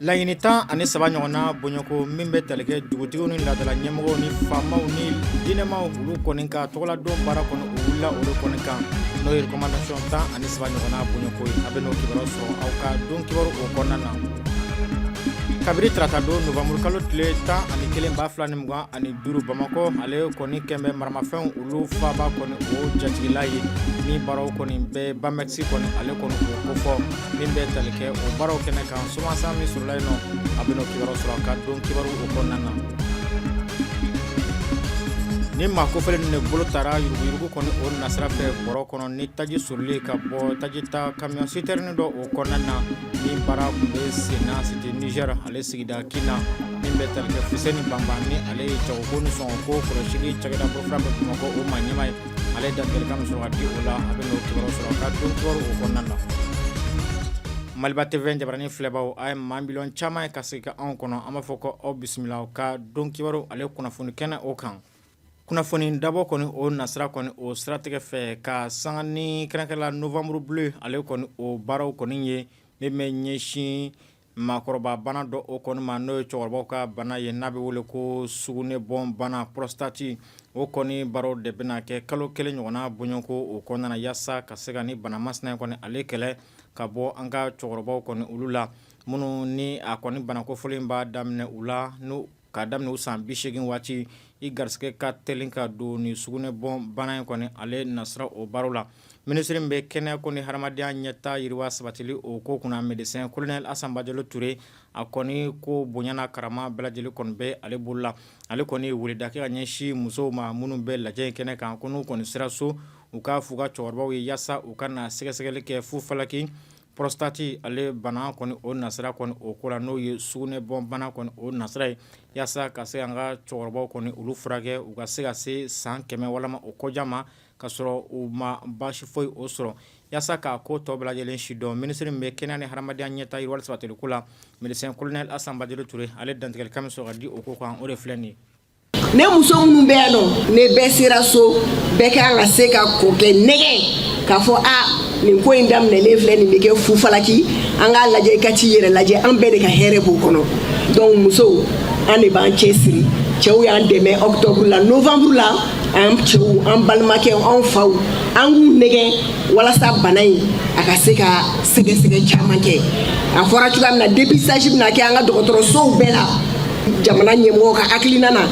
Laɲini tan ani saba ɲɔgɔnna bɔɲɔgɔnko min bɛ tali kɛ dugutigiw ni laadala ɲɛmɔgɔw ni faamaw ni diinɛmaw olu kɔni ka tɔgɔladon baara kɔni o wulila olu kɔni kan n'o ye recommandation tan ani saba ɲɔgɔnna bɔɲɔgɔnko ye a bɛ n'o kibaruya sɔrɔ aw ka don kibaru o kɔnɔna na kabiri tarata don novembre kalo tile tan ani kelen ba fila ni mugan ani duuru bamakɔ ale kɔni kɛlen bɛ maramafɛnw olu faaba kɔni o jatigila ye ni baaraw kɔni bɛ Bamex kɔni ale kɔni o kofɔ min bɛ tali kɛ o baaraw kɛnɛ kan somasa min sɔrɔla yen nɔ a bɛ n'o kibaru sɔrɔ ka don kibaru o kɔnɔna na ni maa kofɔlen de bolo taara yuruguyurugu kɔni o nasira fɛ bɔrɔ kɔnɔ ni taji suuruli ka bɔ taji ta camion citerne dɔ o kɔnɔna na ni baara tun bɛ senna cité Niger ale sigida kin na min bɛ tali kɛ fuseni banban ni ale ye jagoko ni sɔngɔ ko kɔlɔsili cakɛda bolofara bɛ bamakɔ o maa ɲɛmaa ye ale ye dantigɛlikan min sɔrɔ ka di o la a bɛ n'o kibaru sɔrɔ ka don kibaru o kɔnɔna na maliba tv jabaranin filɛbaaw a ye maa miliyɔn caman ye ka sigi ka anw kɔnɔ an b'a fɔ ko aw bisimila aw ka don kibaru ale kunnafoni kɛnɛ o kan kunnafoni dabɔ kɔni o nasira kɔni o siratigɛ fɛ ka sanga ni kɛrɛnkɛrɛn la novembre bleu ale kɔni o baaraw kɔni ye min bɛ ɲɛsin Maakɔrɔba bana dɔ o kɔni ma n'o ye cɛkɔrɔbaw ka bana ye n'a bɛ wele ko sugunɛ bɔn bana prostate o kɔni baaraw de bɛna kɛ kalo kelen ɲɔgɔnna bɔɲɔgɔnko o kɔnɔna na yaasa ka se ka ni bana masina in kɔni ale kɛlɛ ka bɔ an ka cɛkɔrɔbaw kɔni olu la minnu ni a kɔni bana kofɔlen b'a daminɛ u la n K'a daminɛ u san 80 waati i garisigɛ ka teli ka don nin sugunɛ bɔn bana in kɔni ale nasira o baro la minisiri min bɛ kɛnɛya ko ni hadamadenya ɲɛtaa yiriwa sabatili o ko kunna médecin colonel Asan Bajalo Ture a kɔni ko bonya n'a karama bɛɛ lajɛlen kɔni bɛ ale bolo la ale kɔni ye weleda kɛ ka ɲɛsin musow ma minnu bɛ lajɛ in kɛnɛ kan ko n'u kɔni sera so u k'a f'u ka cɛkɔrɔbaw ye yaasa u ka na sɛgɛsɛgɛli kɛ fu falaki Prostate ale bana kɔni o nasira kɔni o ko la n'o ye sugunɛ bɔn bana kɔni o nasira ye yaasa ka se k'an ka cɛkɔrɔbaw kɔni olu furakɛ u ka se ka se san kɛmɛ walama o kɔja ma ka sɔrɔ u ma baasi foyi o sɔrɔ yaasa k'a ko tɔ bɛɛ lajɛlen sidɔn minisiri min bɛ kɛnɛya ni hadamadenya ɲɛtaa yiriwali sabatili ko la médecin colonel Asan Bajalo Ture ale dantigɛlikan min sɔrɔ ka di o ko kan o de filɛ nin ye ne muso minnu bɛ yan nɔ ni bɛɛ sera so bɛɛ kan ka se k'a kɔkɛ nɛgɛn k'a fɔ a nin ko in daminɛlen filɛ nin bɛ kɛ fufalaki an k'a lajɛ i ka t'i yɛrɛ lajɛ an bɛɛ de ka hɛrɛ b'o kɔnɔ donc musow an de b'an cɛsiri cɛw y'an dɛmɛ octobre la novembre la an cɛw an balimakɛw anw faw an k'u nɛgɛn walasa bana in a ka se ka sɛgɛsɛgɛ caman kɛ a fɔra cogoya min na dépistage bɛna kɛ an ka dɔgɔtɔrɔsow bɛɛ la jamana ɲɛmɔgɔ ka hakilina na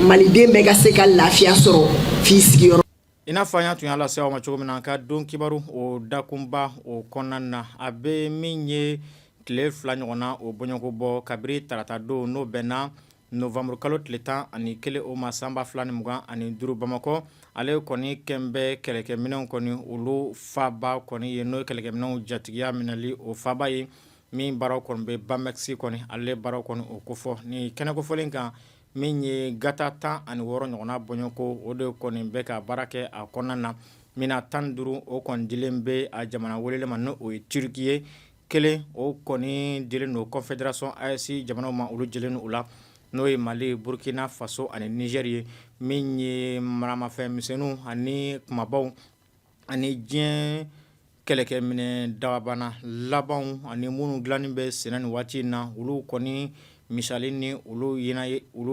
maliden bɛɛ ka se ka lafiya sɔrɔ f'i sigiyɔrɔ i n'a fɔ an y'a tun y'a lase aw ma cogo min na an ka don kibaru o dakunba o kɔnɔna na a bɛ min ye tile fila ɲɔgɔnna o bɔɲɔgɔnko bɔ kabiri tarata don n'o bɛnna novanburukalo tile tan ani kelen o ma sanba fila ni mugan ani duuru bamakɔ ale kɔni kɛlen bɛ kɛlɛkɛminɛw kɔni olu faaba kɔni ye n'o ye kɛlɛkɛminɛw jatigiya minɛli o faaba ye min baara kɔni bɛ bamex kɔni ale baaraw kɔni o kofɔ ni kɛnɛ kofɔlen kan min ye gata tan ani wɔɔrɔ ɲɔgɔnna bɔɲɔgɔnko o de kɔni bɛ ka baara kɛ a kɔnɔna na min na tan duuru o kɔni dilen bɛ a jamana welelen ma n' o ye turki ye kelen o kɔni dilen don confédération AES jamanaw ma olu jɛlen u la n'o ye mali burukina faso ani nizɛri ye min ye maramafɛn misɛnw ani kumabaw ani diɲɛ kɛlɛkɛminɛn dakabana labanw ani minnu dilannen bɛ senna nin waati in na olu kɔni misali ni olu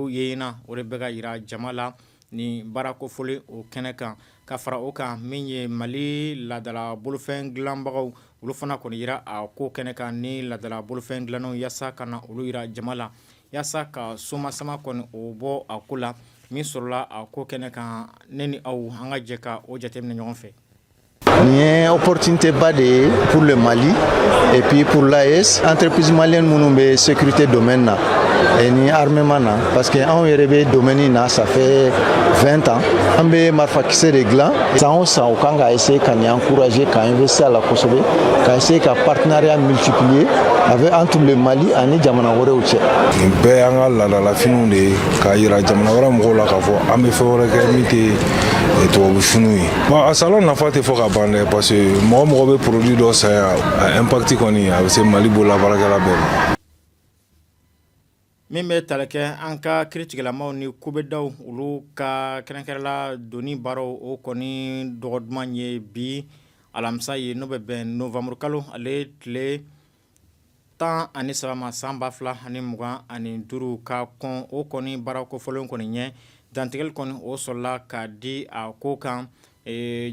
yeyina o de bɛ ka yira jama la ni baara kofɔlen o kɛnɛ kan ka fara o kan min ye mali laadala bolofɛn dilanbagaw olu fana kɔni yira a ko kɛnɛ kan ni laadala bolofɛn dilannenw yaasa ka na olu yira jama la Walasa ka soma sama kɔnɔ o bɔ a ko la min sɔrɔla a ko kɛnɛ kan ne ni aw an ka jɛ ka o jate ni ɲɔgɔn fɛ nin ye o poroteba de ye purle mali epi purla ye an ppsi mali minnu bɛ sete dɔm na ni hamema na parce que anw yɛrɛ bɛ don na sanfɛ fɛn tan an bɛ marifakisɛ de dilan san san u kan ka ese ka an kurae ka bɛ se la kosɛbɛ ka se ka patiinareya mitigiw ye a bɛ an tun bɛ mali ani jamana wɛrɛw cɛ nin bɛɛ y'an ka laadalafiniw de ye k'a yira jamana wɛrɛ mɔgɔw la k'a fɔ an bɛ fɛn wɛrɛ kɛ min tɛ eh, tubabu finiw ye bon a salon nafa tɛ fɔ ka ban dɛ parce que mɔgɔ mɔgɔ bɛ produit dɔ san yan a impact kɔni a bɛ se mali bololabaarakɛla bɛɛ ma min bɛ tali kɛ an ka kiritigɛlamaw ni kubedaw olu ka kɛrɛnkɛrɛnla donni baaraw o kɔni dɔgɔ duman ye bi alamisa ye n'o bɛ bɛn novanburukalo ale tile tan ani saba ma san ba fila ni mugan ani duuru ka kɔn o kɔni baara kofɔlen kɔni ɲɛ dantigɛli kɔni o sɔrɔla ka di a ko kan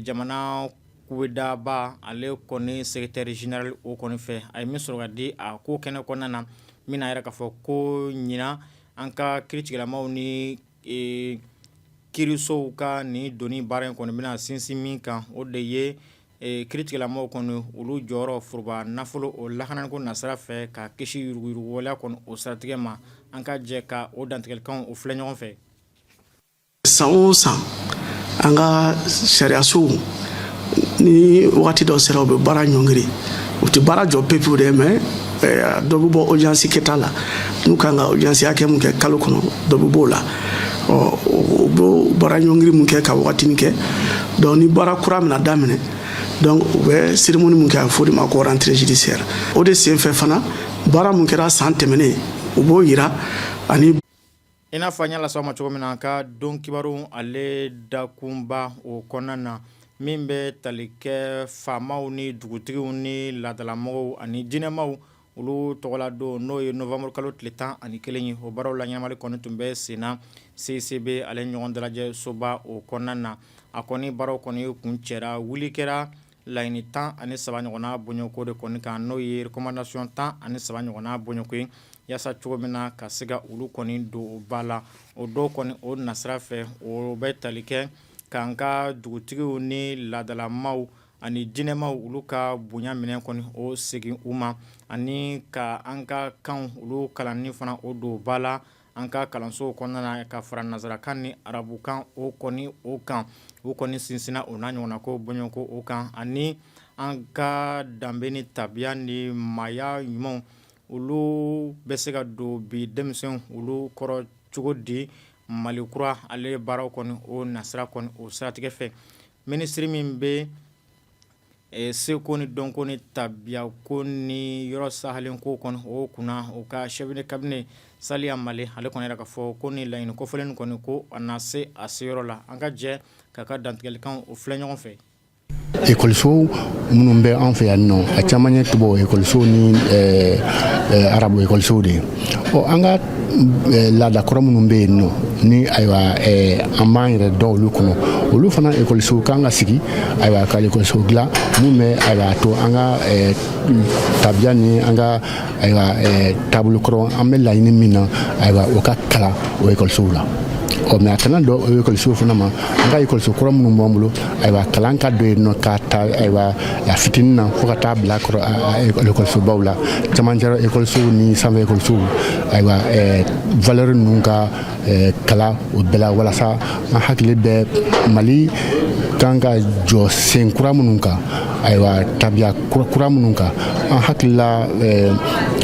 jamana kubedaba ale kɔni secrétaire général o kɔni fɛ a ye min sɔrɔ ka di a ko kɛnɛ kɔnɔna na min n'a yira k'a fɔ ko ɲinan an ka kiritigɛlamaw ni kirisow ka nin donni baara in kɔni bɛna sinsin min kan o de ye Ee kiritigɛlamaw kɔni olu jɔyɔrɔ foroba nafolo o lakanako nasira fɛ ka kisi yuruguyuruguwaleya kɔni o siratigɛ ma an ka jɛ ka o dantigɛlikanw o filɛ ɲɔgɔn fɛ san o san an ka sariyasow ni waati dɔ sera u bɛ baara ɲɔngiri u tɛ baara jɔ pewu dɛ mɛn dɔ bɛ bɔ audience kɛta la n'u kan ka audience hakɛ mun kɛ kalo kɔnɔ dɔ bɛ b'o la ɔ u bɛ baara ɲɔngiri mun kɛ ka wagatini kɛ donc ni baara kura mina daminɛ donc u bɛ cérémonie mun kɛ a bɛ f'o de ma ko rentrée judiciaire o de senfɛ fana baara mun kɛra san tɛmɛnen u b'o yira ani I n'a fɔ an y'a las'aw ma cogo min na, an ka don kibaru ale dakunba o kɔnɔna na, min bɛ tali kɛ faamaw ni dugutigiw ni laadalamɔgɔw ani diinɛmaw olu tɔgɔla don n'o ye novembre kalo tile 11 ye, o baaraw laɲɛnamali kɔni tun bɛ sen na CCB ale ɲɔgɔn dalajɛ soba o kɔnɔna na, a kɔni baaraw kɔni kuncɛra, wuli kɛra laɲini tan ani saba ɲɔgɔnna bɔɲɔgɔnko de kɔni kan n'o ye recommandation tan ani saba ɲɔgɔnna bɔɲɔgɔnko ye yaasa cogo min na ka se ka olu kɔni don ba la o dɔw kɔni o nasira fɛ o bɛ tali kɛ k'an ka dugutigiw ni laadalamaw ani diinɛmaw olu ka bonya minɛn kɔni o segin u ma ani ka an ka kanw olu kalanni fana o don ba la an ka kalansow kɔnɔna na ka fara nazarakan ni arabukan o kɔni o kan u kɔni sinsinna o n'a ɲɔgɔnna ko bɔɲɔgɔnko o kan ani an ka danbe ni tabiya ni maaya ɲumanw olu bɛ se ka don bi denmisɛnw olu kɔrɔ cogo di Mali kura ale baaraw kɔni o nasira kɔni o siratigɛ fɛ minisiri min bɛ Ɛ seko ni dɔnko ni tabiya ko ni yɔrɔ sahalen ko kɔni o kunna o ka chef de cabinet Saliya Male ale kɔni y'a yira k'a fɔ ko ni laɲini kofɔlen kɔni ko a na se a seyɔrɔ la an ka jɛ k'a ka dantigɛlikan o filɛ ɲɔgɔn fɛ ekɔlisow minnu bɛ an fɛ yan nɔ a caman ye tubabu ekɔlisow ni arabu ekɔliso de ye an Eh, laada kɔrɔ minnu bɛ yen nɔ ni ayiwa eh, an b'an yɛrɛ dɔn olu kɔnɔ olu fana ekɔlisow kan ka sigi ayiwa ka ekɔliso dilan min bɛ ayiwa a to an ka eh, tabiya ni an ka ayiwa taabolo kɔrɔ an bɛ laɲini min na ayiwa o ka kalan o ekɔlisow la ɔ mais a kana dan o ekɔlisow fana ma an ka ekɔliso kɔrɔ minnu b'an bolo ayiwa kalan ka don yen nɔ k'a ta ayiwa a fitinin na fo ka taa bila ekɔlisobaw la camancɛrɔ ekɔlisow ni sanfɛ ekɔlisow ayiwa valeur ninnu ka kalan o bɛɛ la walasa an hakili bɛ Mali kan ka jɔ sen kura minnu kan ayiwa tabiya kura minnu kan an hakilila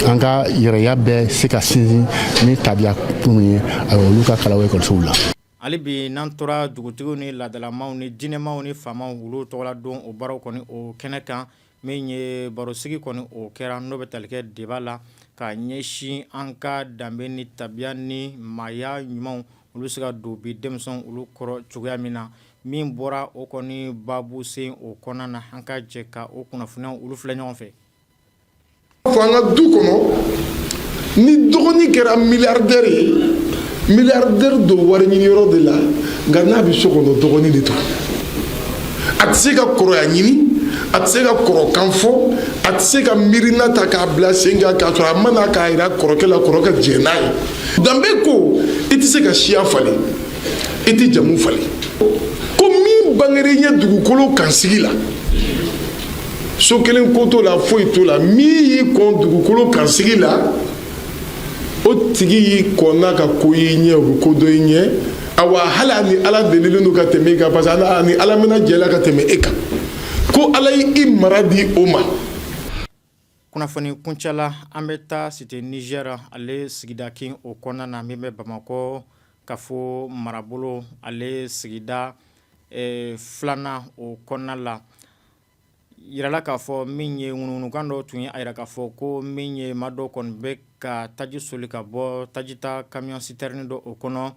an ka yɛrɛya bɛ se ka sinsin ni tabiya minnu ye ayiwa olu ka kalan o ekɔlisow la Hali bi n'an tora dugutigiw ni laadalamaw ni diinɛmaw ni faamaw olu tɔgɔla don o baaraw kɔni o kɛnɛ kan min ye barosigi kɔni o kɛra n'o bɛ tali kɛ débat la ka ɲɛsin an ka danbe ni tabiya ni maaya ɲumanw olu bɛ se ka don bi denmisɛnw olu kɔrɔ cogoya min na min bɔra o kɔni baabu sen o kɔnɔna na an ka jɛ ka o kunnafoniyaw olu filɛ ɲɔgɔn fɛ fɔ an ka du kɔnɔ ni dɔgɔnin kɛra miliyardɛri ye miliyardɛri don wari ɲini yɔrɔ de la nka n'a bɛ so kɔnɔ dɔgɔnin de don a tɛ se ka kɔrɔya ɲini a tɛ se ka kɔrɔkan fɔ a tɛ se ka miirina ta k'a bila sen kan k'a sɔrɔ a ma na k'a jira kɔrɔkɛ la kɔrɔkɛ jɛn n'a ye danbe ko i tɛ se ka siya falen i tɛ jamu falen ko min bangera i ɲɛ dugukolo kan sigi la so kelen ko t'o la foyi t'o la min y'i kɔn dugukolo kan sigi la o tigi y'i kɔnna ka ko y'i ɲɛ o bɛ ko dɔn i ɲɛ awa hali a ni ala delilen don ka tɛmɛ i kan parce que a ni ala mɛnna jɛ la ka tɛmɛ e kan ko ala y'i mara di o ma Kunnafoni kuncɛla an bɛ taa Cité Niger ale sigida kin o kɔnɔna na min bɛ bamakɔ kafo marabolo ale sigida filanan o kɔnɔna la jirala k'a fɔ min ye ŋunuŋunukan dɔ tun ye a jira k'a fɔ ko min ye maa dɔ kɔni bɛ ka taji soli ka bɔ tajita camion citerne dɔ o kɔnɔ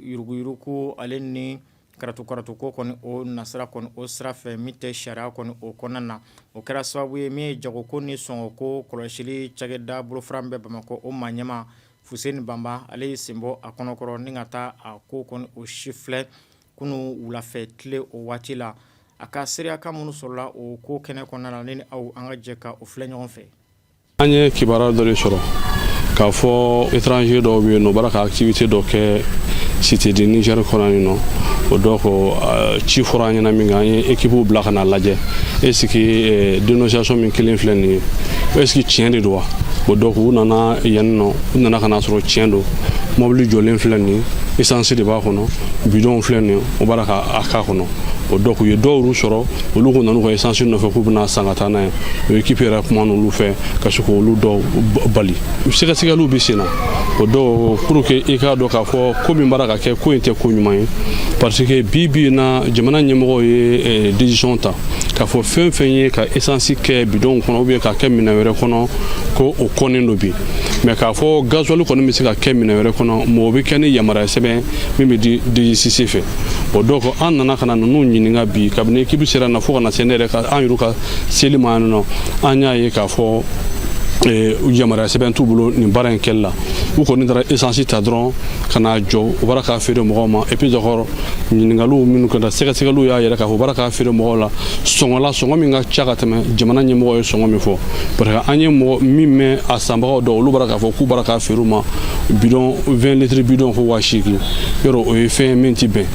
yuruguyurugu ale ni Karatu karatu ko kɔni o nasira kɔni o sira fɛ min tɛ sariya kɔni o kɔnɔna na o kɛra sababu ye min ye jagoko ni sɔngɔ ko kɔlɔsili cakɛda bolofara min bɛ bamakɔ o maa ɲɛmaa Fuseni Banba ale y'i sen bɔ a kɔnɔkɔrɔ ni ka taa a ko kɔni o sifilɛ kunun wulafɛ tile o waati la a ka seereya kan minnu sɔrɔla o ko kɛnɛ kɔnɔna na ni aw an ka jɛ ka o filɛ ɲɔgɔn fɛ an ye kibaruya dɔ de sɔrɔ k'a fɔ étranger dɔw bɛ yen nɔ u b'a ra ka activité dɔ kɛ cité du Niger kɔnɔ nin nɔ bon donc euh, ci fɔra an ɲɛna minkɛ an ye équipe bila ka n'a lajɛ est ce que euh, dénonciation min kelen filɛ nin ye est ce que tiɲɛ de don wa bon donc u nana yan nɔ u nana ka n'a sɔrɔ tiɲɛ don mɔbili jɔlen filɛ nin ye essence de b'a kɔnɔ bidɔnw filɛ nin ye o b'a la ka a k'a kɔnɔ bon donc u ye dɔw y'u sɔrɔ olu k'u nan'u ka esansi nɔfɛ k'u bɛn'a san ka taa n'a ye o ekipi yɛrɛ kumana olu fɛ ka se k'olu dɔw bali sɛgɛsɛgɛliw bɛ sen na bon donc pour que i k'a dɔn k'a fɔ ko min b'a ra ka kɛ ko in tɛ ko ɲuman ye parce que bi bi in na jamana ɲɛmɔgɔw ye eh, décision ta k'a fɔ fɛn fɛn ye ka esansi kɛ bidɔnw kɔnɔ ou bien k'a kɛ minɛn wɛrɛ kɔnɔ ko o kɔnnen don bi mais k'a fɔ gazuwali kɔni bɛ se ka kɛ minɛn wɛrɛ kɔnɔ mais o bɛ kɛ ni yamaruya sɛbɛn min bɛ di DGCC fɛ bon donc an nana ka na ninnu ɲininka bi kabini ekipu sera na fo ka na se ne yɛrɛ ka an yɛrɛ ka seli ma yan nɔ an y'a ye k'a fɔ eh, yamaruya sɛbɛn t'u bolo nin baara in kɛli la u kɔni taara esansi ta dɔrɔn ka n'a jɔ u b'a ra k'a feere mɔgɔw ma et puis encore ɲininkaliw minnu kɛra sɛgɛsɛgɛliw y'a yira k'a fɔ u b'a ra k'a feere mɔgɔw la sɔngɔ la sɔngɔ min ka ca ka tɛmɛ jamana ɲɛmɔgɔ ye sɔngɔ min fɔ parce que an ye mɔgɔ min mɛn a sanbagaw dɔw olu b'a ra k'a fɔ k'u b'a ra k'a feere u ma bidɔn 20 litiri bidɔn ko waa seegin yɔrɔ o ye fɛn min ti bɛn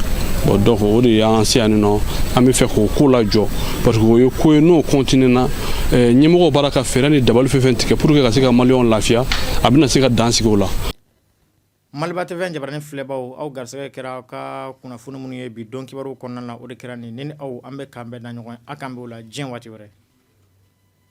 bon donc o de y'an se yan nin nɔ an b'a fɛ k'o ko lajɔ parce que o ye ko ye n'o kɔntinena eh, ɲɛmɔgɔw b'a la ka fɛɛrɛ ni dabali fɛn fɛn tigɛ pour que ka se ka maliyɛnw lafiya a bɛna se ka dan sigi o la Maliba TV jabarani filɛbaw aw garisɛgɛ kɛra aw ka kunnafoni minnu ye bi don kibaruw kɔnɔna na o de kɛra nin ni aw an bɛ k'an bɛn da ɲɔgɔn ye k'an bɛn Ala diyanye waati wɛrɛ